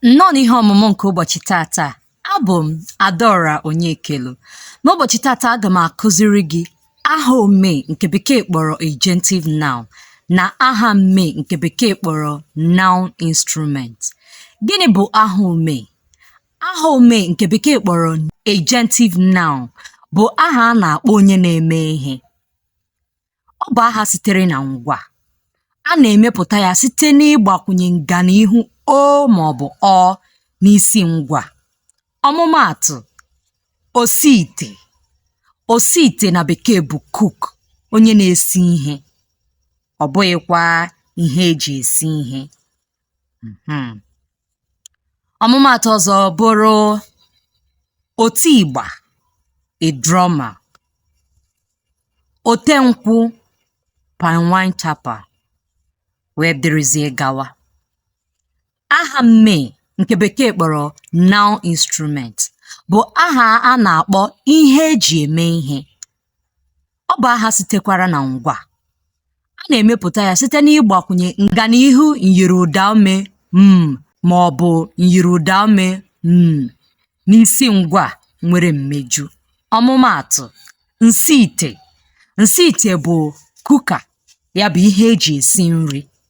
nnọọ n'ihe ọmụmụ nke ụbọchị tata abụ m adaora onyekelu n'ụbọchị tata aga m akụziri gị aha ome nke bekee kpọrọ agentive noun na aha mme nke bekee kpọrọ noun instrument gịnị bụ aha ome aha ome nke bekee kpọrọ agentive noun bụ aha a na-akpọ onye na-eme ihe Ọ bụ aha sitere na ngwa. A na-emepụta ya site n'ịgbakwụnye nganiihu o ma ọ bụ ọ n'isi ngwa. Ọmụmaatụ, osiite. Osiite na bekee bụ cook, onye na-esi ihe, ọ bụghịkwa ihe e ji esi ihe. Hmm. ọmụmaatụ ọzọ bụrụ oti ịgba a drummer ote nkwụ palm wine tapper wee dịrịzie gawa aha mme nke bekee kpọrọ noun instrument bụ aha a na-akpọ ihe e ji eme ihe Ọ bụ aha sitekwara na ngwa. A na-emepụta ya site n'ịgbakwụnye nganiihu myiri ụdaume mm ma ọ bụ myiri ụdaume nn n'isi ngwa nwere mmeju. Ọmụmaatụ, nsiite. Nsiite bụ cooker, ya bụ ihe e ji esi nri.